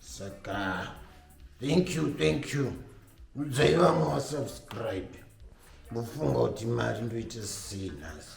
saka thank you thank you udzai vamwe vasubscribe ndofunga kuti mari ndoita sei nhasi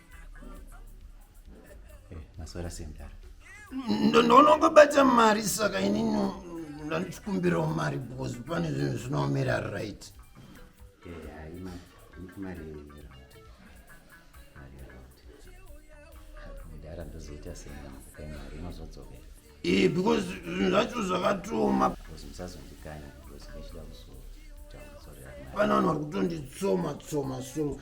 Eh, maswera sei mdara ndonongobata mari saka inini ndandichikumbirawo mari because pane zvinhu zvinoomera right mdara ndozoita seiakupai mari inozodzokera ee because zvinhu zvacho zvakatoma because musazondikanya because ndachida kuzotaura pano vanhu vari kutonditsoma tsoma so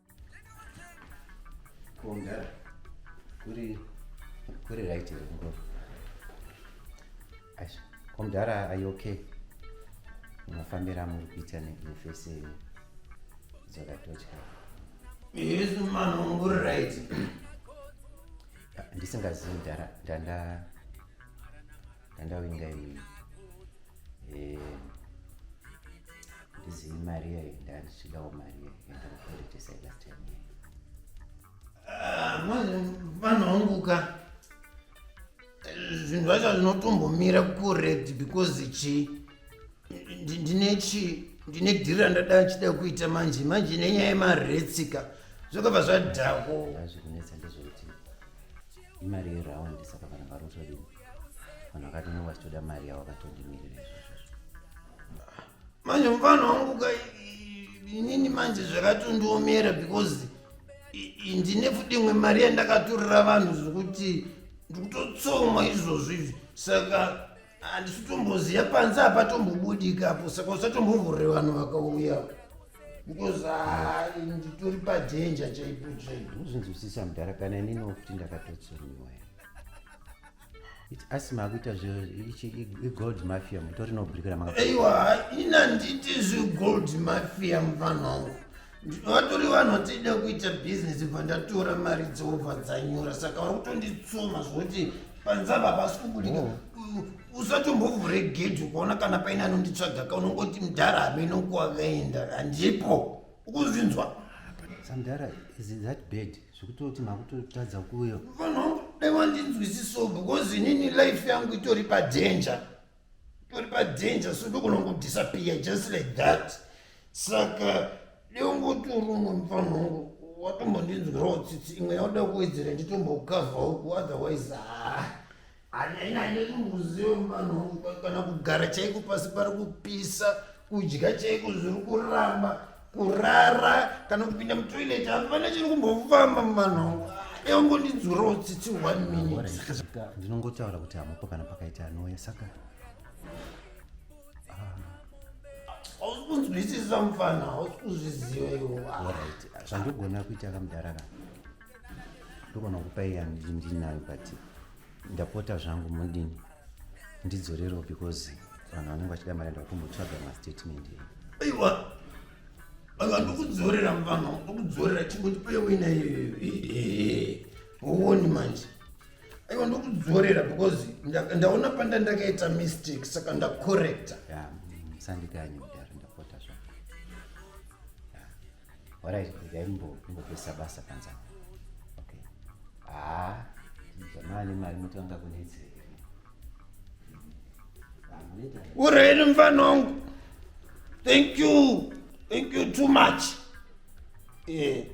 Kongara. Kuri kuri right here ngoro. Ash, komdara are you okay? Unofambira muri kuita nefese dzakatotya. Yes man, uri right. Ndisingazivi ndara ndanda Ndandawinga iyi. Eh. Ndizi Maria ndandichidawo Maria yenda kupolice side last time. Ah, manje vanhu wangu ka zvinhu zvacho zvinotombomira kured because chi ndine chi ndine dhiri randada chida kuita manje manje nenyaya yemaretsika zvakabva zvadhako Hazvikunetsa ndizvo. imari yeround saka vanhu varotodini vanhu vakatona vachitoda mari yavo vakatodimirira izvozvo manje mufana wangu ka inini manje zvakatondiomera because ndine fudimwe mari yandakatorera vanhu zvekuti ndikutotsoma izvozvo izvi saka handisi tomboziva panze hapa tombobudika apo saka usatombovhure vanhu vakauya because ah, nditori padenja chaipo chaipo uzvinzwisisa mudhara kana inini wokuti ndakatotsuniwa asi makuita zvegold mafia mutori nobudikira maka aiwa inanditi zvegold mafia muvanhu wangu ndinotori vanhu vatida kuita bhizinesi bva ndatora mari dzoobva dzanyora saka vari kutonditsoma zvokuti panzava pasi kubudika oh. usatombovhure gedhi ukaona kana paine anonditsvaga ka unongoti mudhara hameno kuwakaenda handipo ukuzvinzwa samdhara is that bad zvekutoti makutotadza kuuya vanhu dai wandinzwisiso because inini life yangu itori padanger pari padanger so ndogona kudisappear just like that saka deungoti uruno mufana wangu watombondinzwirawo tsitsi imwe yaoda kuwedzera nditombokavha uku otherwise haa anyainanyeimbuziwo mufana wangu kana kugara chaiko pasi pari kupisa kudya chaiko zviri kuramba kurara kana kupinda mutoilet hapana chiri kumbofamba mumano eungondidzurawo tsitsi one minute ndinongotaura kuti hamupo kana pakaita anouya saka hausi kunzwisisa mufana hausi kuzviziva iwo zvandogona kuita kamudhara ka ndogona kupa iya ndinayo but ndapota zvangu mudini ndidzorerewo because vanhu vanenge vachida mari enda kutombotsvaga mastatement aiwa vanhu vari kukudzorera mvama ndokudzorera chingoti peye wina uoni manje aiwa ndokudzorera because ndaona panda ndakaita mistake saka ndacorrecta musandikanyi kudaro Alright, regai ndimbopesa basa panza. Okay. Ah, jamaa ne mari motanga kunetseka. Ureni mfana wangu. Thank you. Thank you too much. Yeah.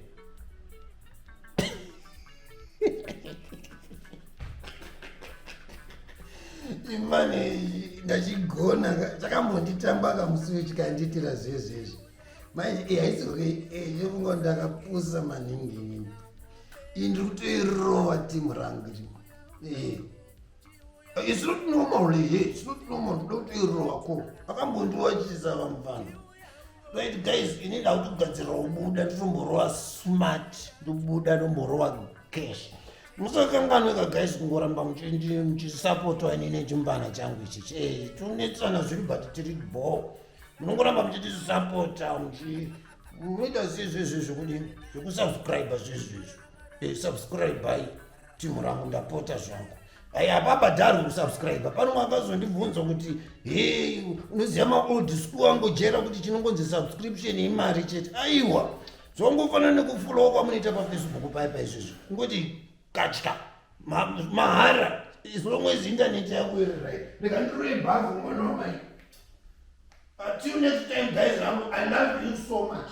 imani ndachigona chakambonditamba kamusi wechikandiitira zvezvezvi manje eh, haizoke eh, nyokunga ndakapusa maningi inini iyi ndiri kutoirova timu rangu ri eh. it's not normal here it's not normal ndoda kutoirova ko akambondiwachisa vamwe vanhu right guys ini ndakutogadzira kubuda nditomborova smart ndobuda ndomborova cash musakanganweka guys kungoramba muchisapotwa inini chimvana changu ichichi tunetsana zviri but tiri bhoo munongoramba muchitisapota muchi munoita zvezvezve zvekudini zvekusubscribe zvezvezvo eh, subscribai timu rangu ndapota zvangu ai hapabhadharwi kusubscribe pano makazondibvunza kuti he unoziva maold school angojera kuti chinongonzi subscription imari chete aiwa zvongofanana nekufulowa kwamunoita pafacebook paye paizvezvo kungoti katya mahara as long as internet yako iri right rega ndiroye bhavu mwana wamai until next time guys avo i love you so much